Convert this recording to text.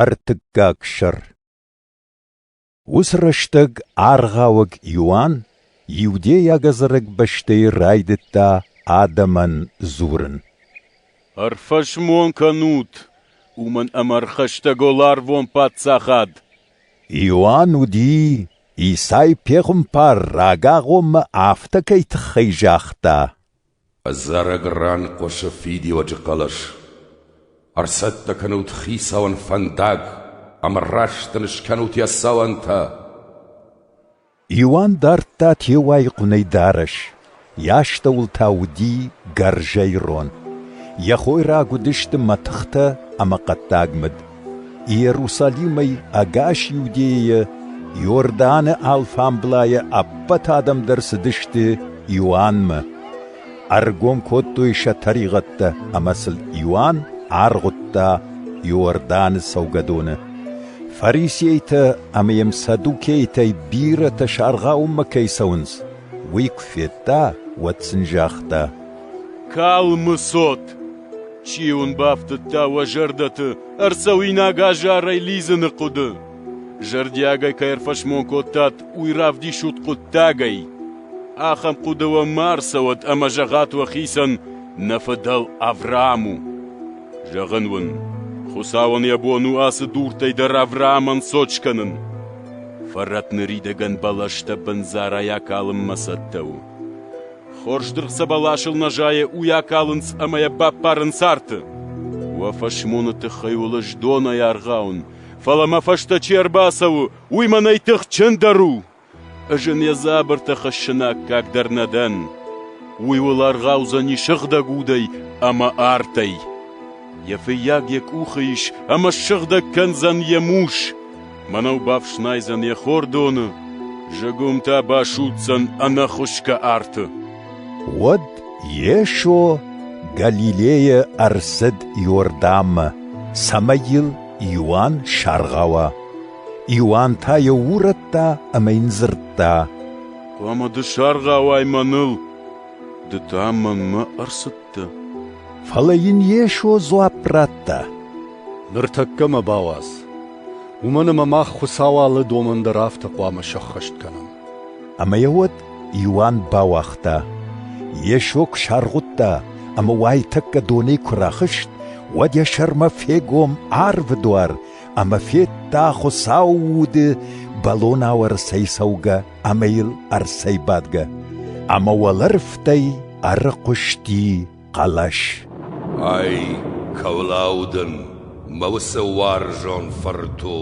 Ӕртыккаг сӕр Уыцы рӕстӕг аргъауӕг Иоанн иудейаг ӕдзӕрӕг бӕстӕйы райдыдта адӕмӕн дзурын. «Ӕрфӕсмон кӕнут, уымӕн ӕмӕ ӕрхӕстӕг у ларвон паддзахад!» Иоанн уыди, Исай пехуымпар рагагъоммӕ афтӕ кӕй тыххӕй загъта. Ӕдзӕрӕг ран хъуысы фидиуӕджы хъӕлӕс: Ӕрцӕттӕ кӕнут Хицауӕн фӕндаг ӕмӕ раст ын скӕнут йӕ цӕуӕнтӕ! Иоанн дардта теуайы хъуынӕй дарӕс, йӕ астӕуыл та уыди гӕрзӕй рон. Йӕ хойраг уыдысты мӕтыхтӕ ӕмӕ хъӕддаг мыд. Иерусалимӕй ӕгас Иудейӕйӕ Иорданы алфамблайӕ ӕппӕт адӕм дӕр цыдысты Иоаннмӕ. Ӕргом кодтой сӕ тӕригъӕдтӕ ӕмӕ сыл Иоанн аргъуыдта Иорданы цӕугӕдоны. Фарисейтӕ ӕмӕ йӕм саддукейтӕй бирӕтӕ саргъауынмӕ кӕй цӕуынц, уый куы федта, уӕд сын загъта: «Калмы цот!» Чи уын бафтыдта уӕ зӕрдӕты ӕрцӕуинаг азарӕй лидзыны хъуыды? Зӕрдиагӕй кӕй ӕрфӕсмон кодтат уый равдисут хъуыддагӕй. Ахӕм хъуыды уӕ ма ӕрцӕуӕд ӕмӕ зӕгъӕт уӕхицӕн, нӕ фыдӕл Авраам у. Зӕгъын уын, Хуыцауӕн йӕ бон у ацы дуртӕй дӕр Авраамӕн цот скӕнын. Фӕрӕт ныридӕгӕн бӕлӕстӕ бындзарӕй акалынмӕ цӕттӕ у. Хорз дыргъ сӕ бӕласыл нӕ зайы, уый акалынц ӕмӕ йӕ баппарынц арты. Уӕ фӕсмоны тыххӕй уылыс донӕй аргъауын, фӕлӕ мӕ фӕстӕ чи ӕрбацӕуы, уый мӕнӕй тыхджындӕр у. Ӕз ын йӕ дзабыртӕ хӕссын аккаг дӕр нӕ дӕн. Уый уыл аргъаудзӕни сыгъдӕг удӕй ӕмӕ артӕй. Йӕ фыййаг йӕ къухы ис ӕмӕ ссыгъдӕг кӕндзӕн йӕ мус. Мӕнӕу бафснайдзӕн йӕ хордоны, зыгуымтӕ басудздзӕн ӕнӕхуысгӕ арты. Уӕд Йесо Галилейӕ ӕрцыд Иорданмӕ, цӕмӕй йыл Иоанн саргъауа. Иоанн та йӕ урӕдта ӕмӕ йын дзырдта: «Хъуамӕ ды саргъауай мӕныл, ды та мӕнмӕ ӕрцыдтӕ». Фӕлӕ йын Йесо дзуапп радта: «Ныртӕккӕ мӕ бауадз». Уымӕн ӕмӕ мах Хуыцауы алы домӕн дӕр афтӕ хъуамӕ сӕххӕст кӕнӕм. Ӕмӕ йӕ уӕд Иоанн бауагъта, Йесо куы саргъуыдта ӕмӕ уайтӕккӕ донӕй куы рахызт, уӕд йӕ сӕрмӕ фегом арвы дуар ӕмӕ федта, Хуыцауы уды бӕлон ауӕрцӕй цӕугӕ ӕмӕ йыл ӕрцӕйбадгӕ, ӕмӕ уӕлӕрвтӕй ӕрыхъуысти хъӕлӕс. Ай, кӕуылау дын мӕ уыцы уарзон фырту!